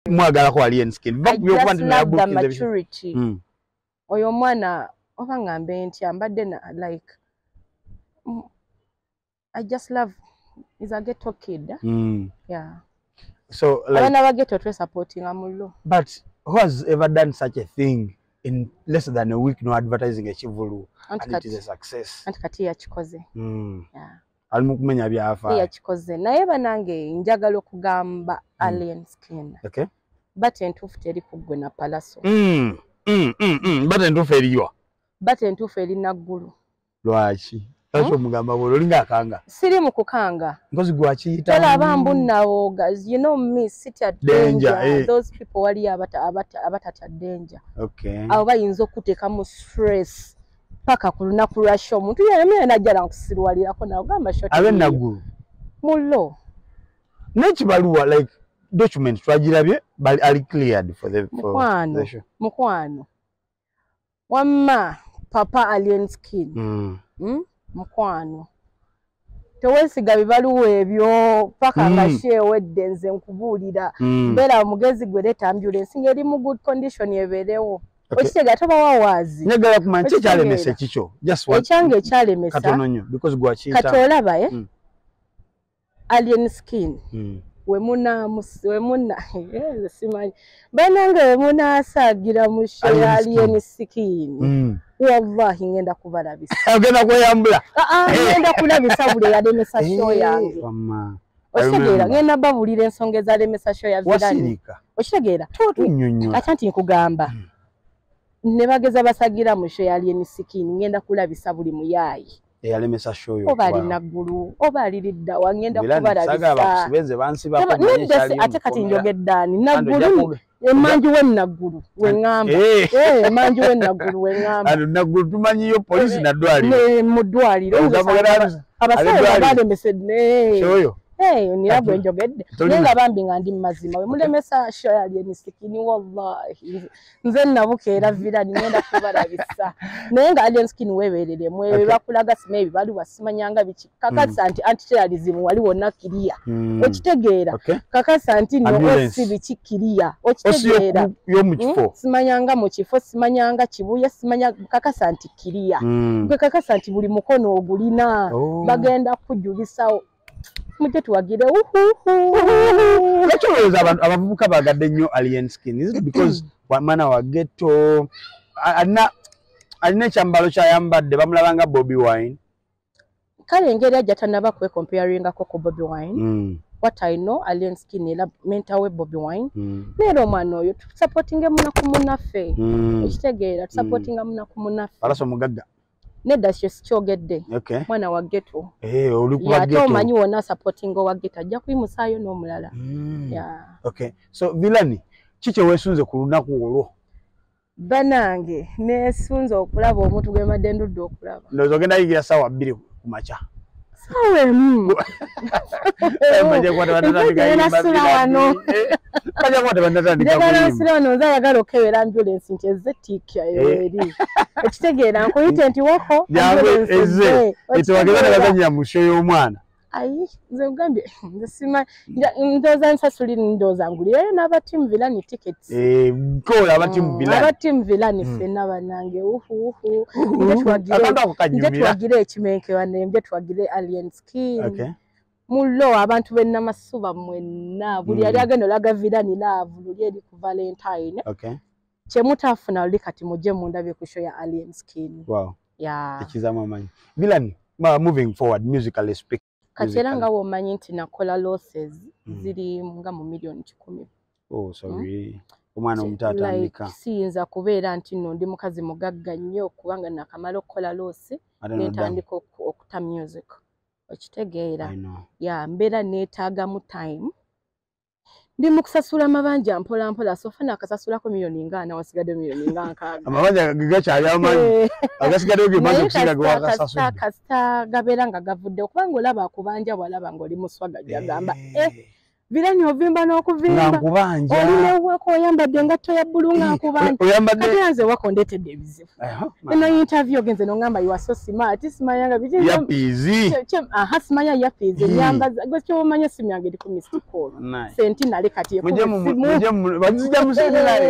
mwagalako wali enskin va ku byokuba nti nayabukize mm. oyo omwana oba ngambe ntya mbadde na like mm, i just love is a ghetto kid mm. yeah so like abana ba ghetto twe supporting amullo but who has ever done such a thing in less than a week no advertising a chivulu and, and it is a success and kati yakikoze mm. yeah ali mu kumenya byafaayo yakikoze naye banange njagala okugamba mm. alien skin okay. bat entuufu teri ku ggwe na palaso mm, mm, mm, mm. bat entuufu eriwa bat entuufu eri naggulu lwaki lwaki hmm? omugamba bwe olinga akanga siri mu kukanga mpozi gwakiyita tolaba mbu nawoga you know me sit at danger, danger. Eh. those people waliyo abatatya danger okay. abo bayinza okuteekamu stress paka ku lunaku lwa sho omuntu yeyamira najja nakusiruwalirako nagamba sho abe nagulu mullo nekibaluwa like document twagirabye ali cleared for the mukwano mukwano wamma papa alien skin mm. mm? mukwano tewesiga bibaluwa ebyo paka nga mm. shewedde nze nkubuulira mm. mbeera omugezi gwe leeta ambulensi ngeri mu good condition ebeerewo okitega toba wawaazi njagala kumanya ki ekyalemesa ekikyo ekyange ekyalemesa katono nnyo because gwakiyita kati olaba e mm. alien skin mm. wemuna wemuna eh, simanyi banange wemunasaagira mu alien skin mm. wallahi ngenda kubalabisa ogenda kweyambula ah, ah, eh. ngenda kulabisa buli eyalemesa eh, sho yange okitegeera ngenda babulira ensonga ezalemesa sho ya virani okitegeera ata nti nkugamba mm. ne bageza basagira mu sho ya alien skin ngenda kulabisa buli muyaayi eyalemesa shoyo oba ali naggulu oba aliridda wangenda kubalabisaaasi ate kati njogeddaani naggulu emanju we naggulu weŋamba eh. eh, emanju we naggulu weŋambaanaggulu tumanyiyo polisi eh, nadwaliro mu ddwaliro abasawo balemesedneoyo nira gwe njogedde naye nga bambi nga ndi mu mazima we mulemesa shoyo ali emisikini wallahi nze nabuka era mhm. vira nigenda kubalabisa naye nga alien skin weberere mwebe okay. bakulaga sima ebi bali wasimanyanga biki kakasa mm. nti antiterrorism wali wonna kiriya mm. okitegeera okay. kakasa nti noosi biki kiriya okitegeera hmm? simanyanga mu kifo simanyanga kibuya simanya kakasa nti kiriya mm. gwe kakasa nti buli mukono ogulina oh. bagenda kujulisawo mujje tuwagire ekirowooza abantu abavubuka bagadde nnyo alien skin is it because mwana wa getto alina alina ekyambalo kyayambadde bamulaba nga bobi wine kale engeri ajja tanaba kwekomparingako ku bobi wine mm. what i know alien skin era menta we bobi wine mm. neera omwana oyo tusapotinge munaku munaffe mm. ekitegeera tusapotinga munaku munaffe alasa omugagga nedda kyo sikyogedde okay. mwana wa geto eh, ate omanyi wona supporting owa geto ajja kuyimusaayo n'omulala mm. yeah. okay. so vilani ki kyewesunze ku lunaku olwo banange nesunze okulaba omuntu gwembadde ndudde okulaba ndoza ogenda yigira sawa bbiri ku makya sawa emu njagalansirano nze ayagala okukebera ambulensi nti ezze tiikya eri eh. ekitegeera nkuyite nti wako ambulensi ezze etewageza nebazanyira mu sho y'omwana ayi nze nkugambye nze simanyi ndoza nsasuli ndoza ngulireyo naba team vilani tickets eh kola aba team mm, vilani aba team vilani mm. fena banange uhu uhu nje twagire ekimenke bane nje twagire alien skin okay mullo abantu be namasuba mwenna buli yali mm. agenda olaga vilani laavu luli eri ku valentine okay kyemutafuna luli kati muje mundabye ku show ya alien skin wow yeah ekizama manyi vilani moving forward musically speaking kati era nga womanyi nti nakola losses mm. ziri nga mu million kikumi oh, hmm? omwana omuto atandika siyinza kubeera nti no ndi mukazi mugagga nnyo kubanga nakamala okukola loosi nentandika okuta music okitegeera ya mbeera neetaagamu time ndi mu kusasula amabanja mpola mpola sofa nakasasulako miliyoni nga ana wasigadde miliyoni nga nkaaga amabanja gakyali amanyi eh. agasigaddeyo ge maze okusinga ge wakasasula kasita gabeera nga gavudde okubanga olaba akubanja bwalaba nga oli muswaga gyagamba eh. eh virani ovimba n'okuvimba oli newuwako oyambadde engatto ya bbulu nga eh, nkubanja kati anze wako ndeetedde ebizibu eno interview ogenze nongamba you are so smart simanya nga biki ya pizi aha simanya ya pizi nyamba go kyo manya simu yange ndi ku Mr Call senti nale kati yeko muje muje bazija musibira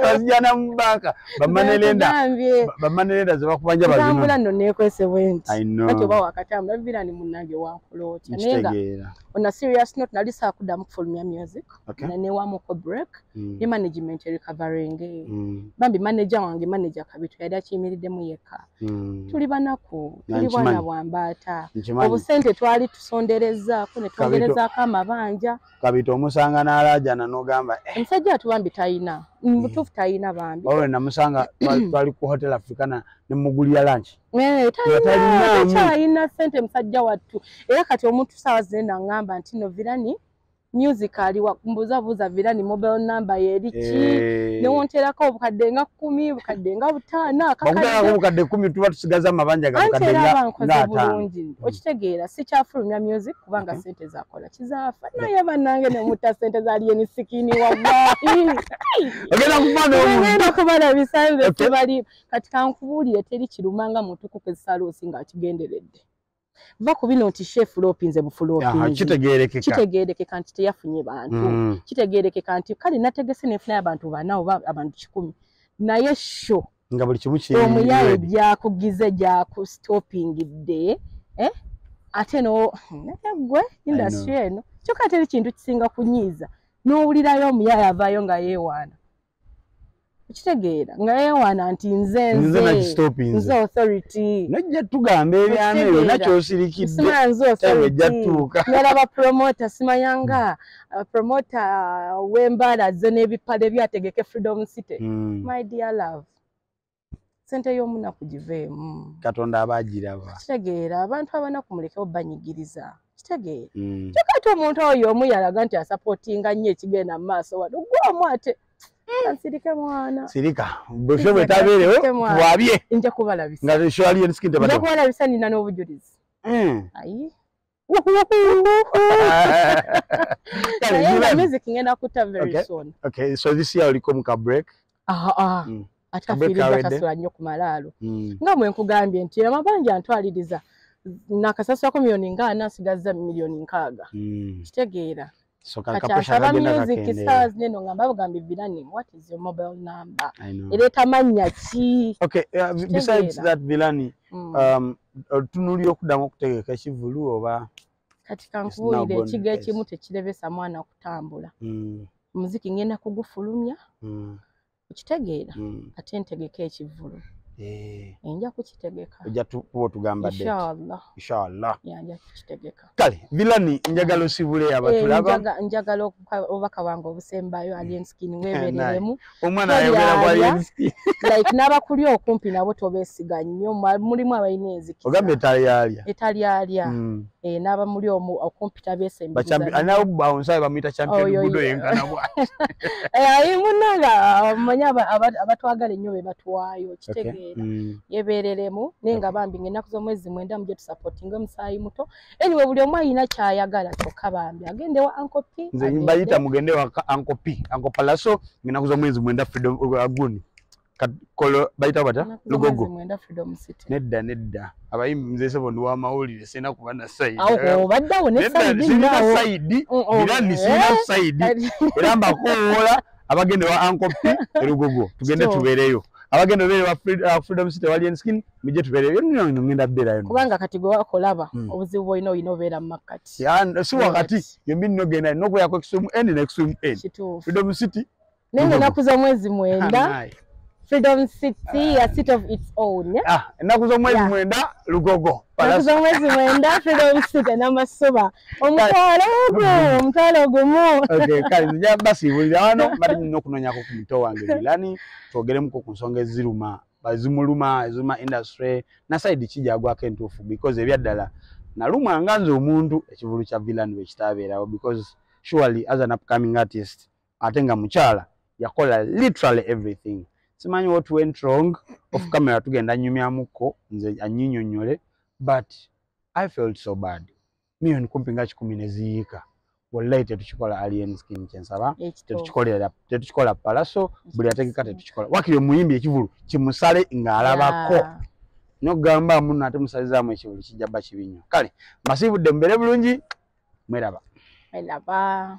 bazija na mbaka bamane lenda bamane lenda zaba kubanja bazima tambula no ne kwese went kati oba wakatamba vira ni munange wa kulota nenga on a serious note nali sakudamu kufulumya music okay. na newamuko break mm. ne management recovering mm. bambi manager wange manager kabitu yali akiyimiriddemu yekka mm. tuli banaku tuli bwana bwambaata obusente twali tusonderezaako ne twongerezaako amabanja kabitu omusanga n'alaajana n'ogamba eh. omusajja atu bambi talina mm. mutuufu talina bambi olwe namusanga twali ku hotel africana ne mugulira lanki eh, talina sente musajja wattu era kati omuntu saawa zinaenda ngamba nti novirani music ali wakumbuza buza vira ni mobile number yeri ki eh. ne wontera ko bukadde nga 10 bukadde nga butana kakala ko bukadde 10 tuba tusigaza mabanja ga bukadde nga nga bulungi mm. okitegeera si kyafulumya music kubanga mm -hmm. sente za kola kizafa na ye banange ne muta sente za ali ni sikini wallahi ogenda kumana omu ogenda kumana bisanze okay. tubali katika nkubulire teri kirumanga mutu kukezalo singa akigenderedde va ku bino nti shefulopi nze bufulopkitegeerekeka nti teyafunye bantu mm. kitegeerekeka nti kale nategese nefunayo abantu bana oba abantu kikumi naye sho nga buli kimu omuyaye gyakugize gyakustopingidde eh? ate no gwe industry eno kyokka teri kintu kisinga kunyiiza n'owulirayo omuyaye avaayo nga yeewaana okitegeera nga yeewaana nti nze nze nze authority nojja tugamba ebyama ebyo nakyosirikiddesima nze authorityjjatuuka nera bapromota simayanga abapromota uh, uh, w'embaala ze n'ebipale byategeke freedom city hmm. my dear love sente y'omunaku giveemu katonda aba agiraba kitegeera abantu abanaku mulekewo banyigiriza kitegeera mm. kyokka ate omuntu oyo omu yalaga nti asapootinga nnyo ekigenda mu maaso wano gwe omu ate Ansirike mwana. Sirika. Bwesho mwetabere ho. Wabie. Inja kubala bisa. Nga resho alien skin tebado. Inja kubala bisa ni nano ubujulizi. Mm. Ayi. Kale, naye nga Ivan. music ngenda kuta very Okay. soon okay so this year oliko mu ka break Ah, ah. Mm. ate Kabwe afiiriza kawedde. tasula nnyo ku malaalo Mm. nga mwe nkugambye nti amabanja antwaliriza nakasasulako miliyoni nga ana asigazza miliyoni nkaaga Mm. kitegeera so kati kakapusha asaba kagenda music kakendeera stars neno nga mbabugambye vilani what is your mobile number I know. era etamanya ki okay uh, b- besides Kitegeera. that vilani Mm. um, otunulira okudamu okutegeka ekivulu oba kati now kankubuulire gone ekigo place. ekimu tekirebesa mwana kutambula mm, omuziki ngenda kugufulumya mm, okitegeera mm. ate ntegeka ekivvulu eh. enja kukitegeka ojja kuba otugamba inshallah nja kukitegeka kale vilani njagala osibule eh, abatulaba njagala obubaka bwange obusembayo alienskin eh, webereremu omwana ayogera ku alienskin like n'abakuli okumpi nabo tobesiga nnyo mulimu abalina enzikisa ogamba etalyalya etalyalya mm. eh, n'aba muli omu okumpita besembeanawbawunsabe bamuyita champion gudo yenkanabwa ayi eh, munanga amanyi abatwagala ennyo be batwayo kitegeera mm. yebeereremu naye nga bambi nga ennaku z'omwezi mwenda muje tusapotinga omusaayi muto anyway buli omu alina kyayagala kyokka bambi agende wa ankopi nze mbayita mugende wa ankopi ankopalaso nga ennaku z'omwezi mwenda freedom uh, guni kolo bayita bata lugogo nedda nedda abayimbi mzee sebo ndi wamawulire sina kuba na saidi sina saidi era mbakuwola abagenda wa ankopi elugogo tugende tubeereyo abagenda obeere wa uh, freedom city walien skin mujje tubeereyo nno ngenda beerayo kubanga kati gwe wakolaba hmm. obuzibu bwolina olina obeera mu makkati si wakati yembi nogenda nokuyako extreme end ne extreme end freedom city naye nga enaku z'omwezi mwenda freedom city a city of its own ah, enaku z'omwezi mwenda lugogo enaku z'omwezi mwenda freedom city n'amasuba omutwalo ogwo omutwalo ogumu kale nja basiibulira wano mbadde nyina okunoonyako ku muto wange milani twogeremuko ku nsonga eziruma zimuluma eziruma industry nasaidi kijagwako entuufu because ebyaddala nalumwa nga nze omuntu ekivulu kya villan bwekitaabeerawo because surely as an upcoming artist ate nga mukyala yakola literally everything simanyi what went wrong of camera tugenda nyumyamuko nze anyinyonyole but i felt so bad million kumpi nga kikumi neziyiika wallahi tetukikola alien skin kyensaba tetukikolera tetukikola palaso buli ategeka tetukikola wakiri omuyimbi ekivulu kimusale ng'alabako yeah. nogamba muno ate musalizamu ekibuli kijja ba kibi nnyo kale mbasiibudde mubeere bulungi mweraba mweraba